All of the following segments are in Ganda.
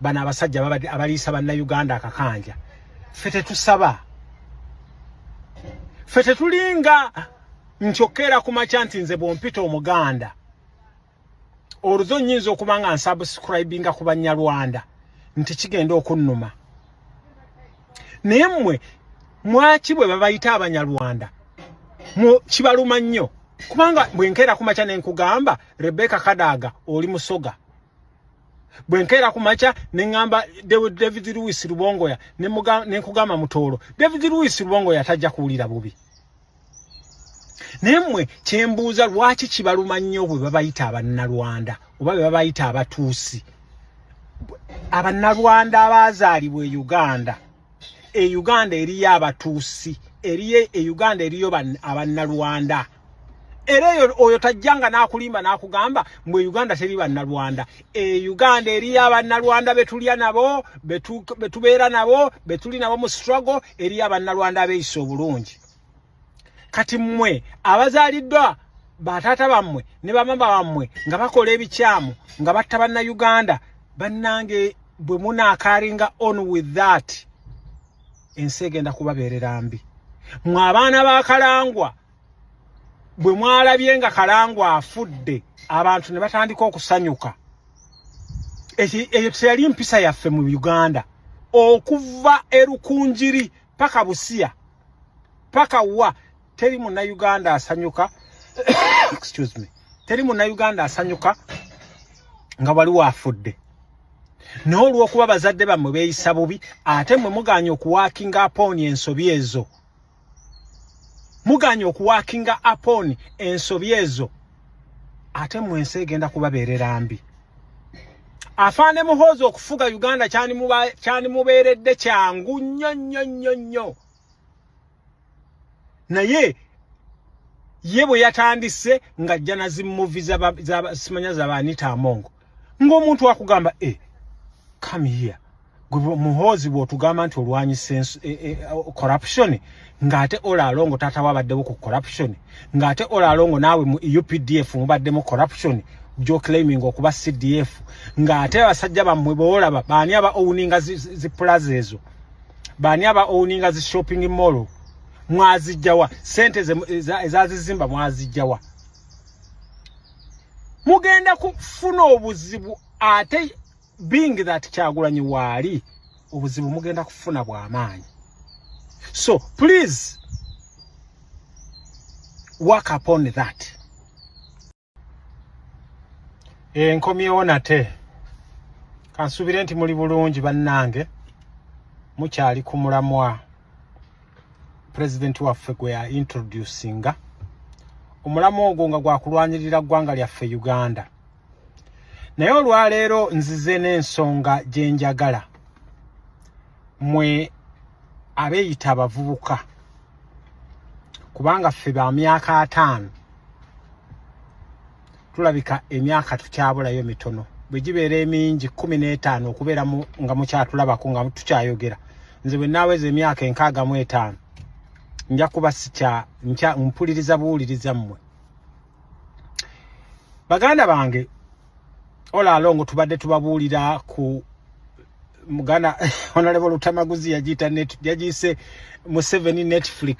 bano abasajja abaliisa bannayuganda akakanja ffe tetusaba ffe tetulinga nkyokkeera ku makya nti nze bwompita omuganda oluzo nyinza okuba nga nsubscribinga ku banyarwanda nti kigenda okunnuma naye mmwe mwaki bwe babayita abanyarwanda kibaluma nnyo kubanga bwenkeera ku makya ne nkugamba rebeka kadaaga oli musoga bwe nkeera ku makya ne ŋŋamba david louis lubongoya ne nkugamba mutoolo david louis lubongoya tajja kuwulira bubi naye mmwe kye mbuuza lwaki kibaluma nnyo bwe babayita abannalwanda oba be babayita abatuusi abannalwanda abaazaalibwa e uganda e uganda eriyo abatuusi eriyo e uganda eriyo abannalwanda era eyo oyo tajjanga n'akulimba n'akugamba mwe uganda teri bannalwanda e uganda eriyo abannalwanda betulya nabo betubeera nabo betuli nabo mu struggle eriyo abannalwanda abeeyisa obulungi kati mmwe abazaaliddwa bataata bammwe ne bamama bammwe nga bakola ebikyamu nga batta bannayuganda bannange bwe munaakaringa on with that ensi egenda kubabeerera mbi mwe abaana ba kalangwa bwe mwalabye nga kalangu afudde abantu ne batandika okusanyuka eyo teyali mpisa yaffe mu uganda okuva erukunjiri paka busiya paka wa teri munauganda asanyuka excuse me teri munauganda asanyuka nga waliwo afudde naye olw'okuba bazadde bammwe beeyisa bubi ate mmwe mugaanye okuwaakinga apooni ensobi ezo muganye okuwakinga upon ensobi ezo ate mu ensi egenda kubabeerera mbi afaane muhoozi okufuga uganda kyanimubeeredde kyangu nnyo nnyo nnyo nnyo naye ye bwe yatandise ng'ajja na zimuvi simanya zaba anita amongo ng'omuntu akugamba e eh, come here muhoozi bwotugamba nti olwanyisa e, e, corruption ng'ate olaalongo taata wabaddewo ku corruption ng'ate olaalongo naawe mu e updf mubaddemu corruption gyoclaiming okuba cdf ng'ate abasajja bammwe boolaba baani aba owuninga zipulaza ezo baani aba owuninga zi shopping mall mwazijjawa sente ezazizimba mwazijjawa mugenda kufuna obuzibu ate being that kyagulanyi waali obuzibu mugenda kufuna bwamaanyi so please work upon that enkomyewo nate kansuubire nti muli bulungi bannange mukyali ku mulamwa pulezidenti waffe gwe ya introducinga omulamwa ogwo nga gwakulwanirira ggwanga lyaffe uganda naye olwaleero nzize n'ensonga gye njagala mwe abeeyita abavubuka kubanga ffe ba myaka ataano tulabika emyaka tukyabulayo mitono bwe gibeera emingi kumi n'etaano okubeera nga mukyatulabako nga tukyayogera nze bwe naaweza emyaka enkaaga mu etaano nja kuba sikya mpuliriza buwuliriza mmwe baganda bange ola alongo tubadde tubabuulira ku muganda onalebo lutamaguzi yagiyita yagiyise museveni netflix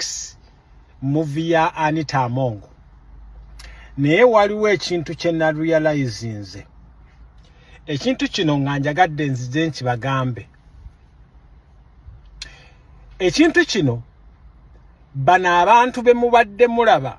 muvi ya anita amongo naye waliwo ekintu kye narealizinze ekintu kino nga njagadde nzize nkibagambe ekintu kino bano abantu bemubadde mulaba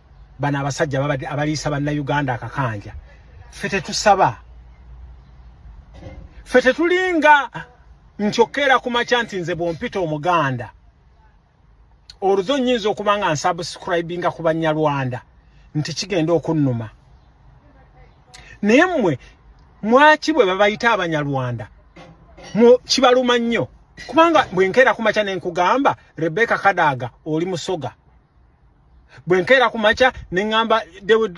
bano abasajja abaliisa bannayuganda akakanja ffe tetusaba ffe tetulinga nkyokkeera ku makya nti nze bwompita omuganda oluzo nyinza okuba nga nsubscribinga ku banyarwanda nti kigenda okunnuma naye mmwe mwaki bwe babayita abanyarwanda kibaluma nnyo kubanga bwenkeera ku makya ne nkugamba rebeka kadaaga oli musoga bwe nkeera ku makya ne ŋŋamba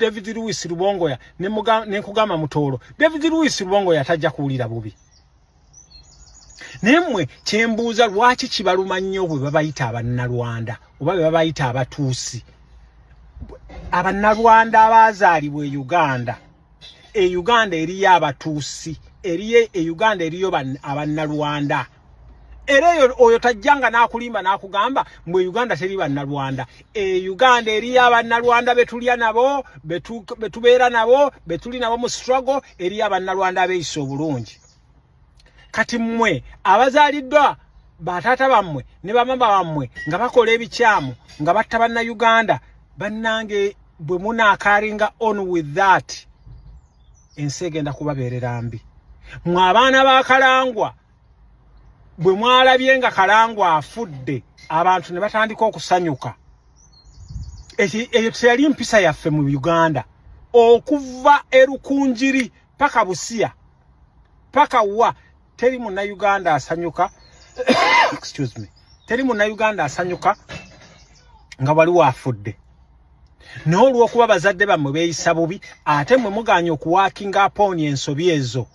david louis lubongoya ne nkugamba mutoolo david louis lubongoya tajja kuwulira bubi naye mmwe kye mbuuza lwaki kibaluma nnyo bwe babayita abannalwanda oba be babayita abatuusi abannalwanda abaazaalibwa e uganda e uganda eriyo abatuusi eriyo e uganda eriyo abannalwanda era eyo oyo tajjanga n'akulimba n'akugamba mbu e uganda teri bannalwanda e uganda eriyo abannalwanda betulya nabo betubeera nabo betuli nabo mu struggle eriyo abannalwanda abeeyisa obulungi kati mmwe abazaaliddwa bataata bammwe ne bamama bammwe nga bakola ebikyamu nga batta bannayuganda bannange bwe munaakaringa on with that ensi egenda kubabeerera mbi mwe abaana ba kalangwa bwe mwalabye nga kalangu afudde abantu ne batandika okusanyuka eyo teyali mpisa yaffe mu uganda okuva erukunjiri paka busiya paka wa teri munauganda asanyuka excuse me teri munauganda asanyuka nga waliwo afudde naye olw'okuba bazadde bammwe beeyisa bubi ate mwe muganye okuwaakinga apooni ensobi ezo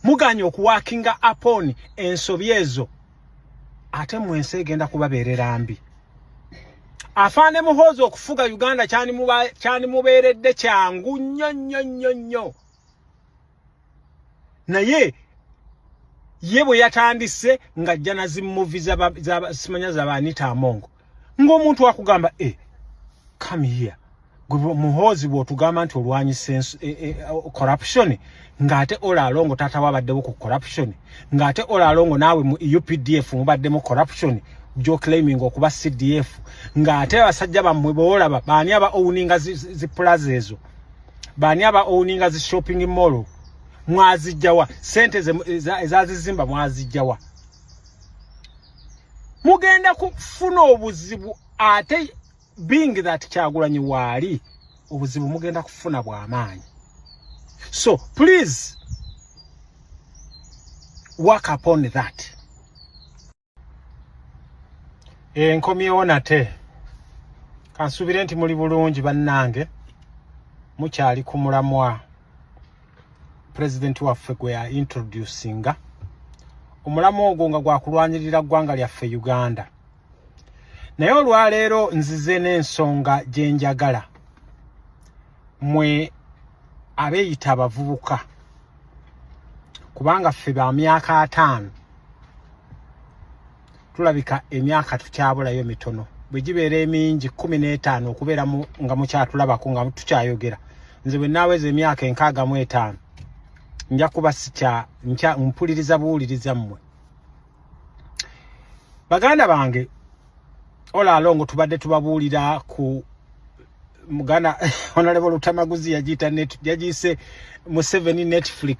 muganye okuwakinga upon ensobi ezo ate mu ensi egenda kubabeerera mbi afaane muhoozi okufuga uganda kyanimubeeredde kyangu nnyo nnyo nnyo nnyo naye ye bwe yatandise ng'ajja na zimuvi simanya zaba anita amongo ng'omuntu akugamba e eh, come here gwe muhoozi bw'otugamba nti olwanyisa eh, eh, corruption ng'ate olaalongo taata wabaddewo ku corruption ng'ate olaalongo naawe mu updf mubaddemu corruption gyoclaiming okuba cdf ng'ate abasajja bammwe boolaba baani aba owuninga ziplaza ezo baani aba owuninga zi shopping mall mwazijjawa sente ezazizimba mwazijjawa mugenda kufuna obuzibu ate being that kyagulanyi waali obuzibu mugenda kufuna bwamaanyi so please work upon that enkomyewo nate kansuubire nti muli bulungi bannange mukyali ku mulamwa president waffe gwe ya introducinga omulamu ogwo nga gwakulwanirira ggwanga lyaffe uganda naye olwaleero nzize n'ensonga gye njagala mwe abeeyita abavubuka kubanga ffe ba myaka ataano tulabika emyaka tukyabulayo mitono bwe gibeera emingi kumi n'etaano okubeera nga mukyatulabako nga tukyayogera nze bwe naaweza emyaka enkaaga mu etaano nja kuba sikya nkya mpuliriza buwuliriza mmwe baganda bange ola alongo tubadde tubabuulira ku muganda onalebo lutamaguzi yagiyita yagiyise museveni netflix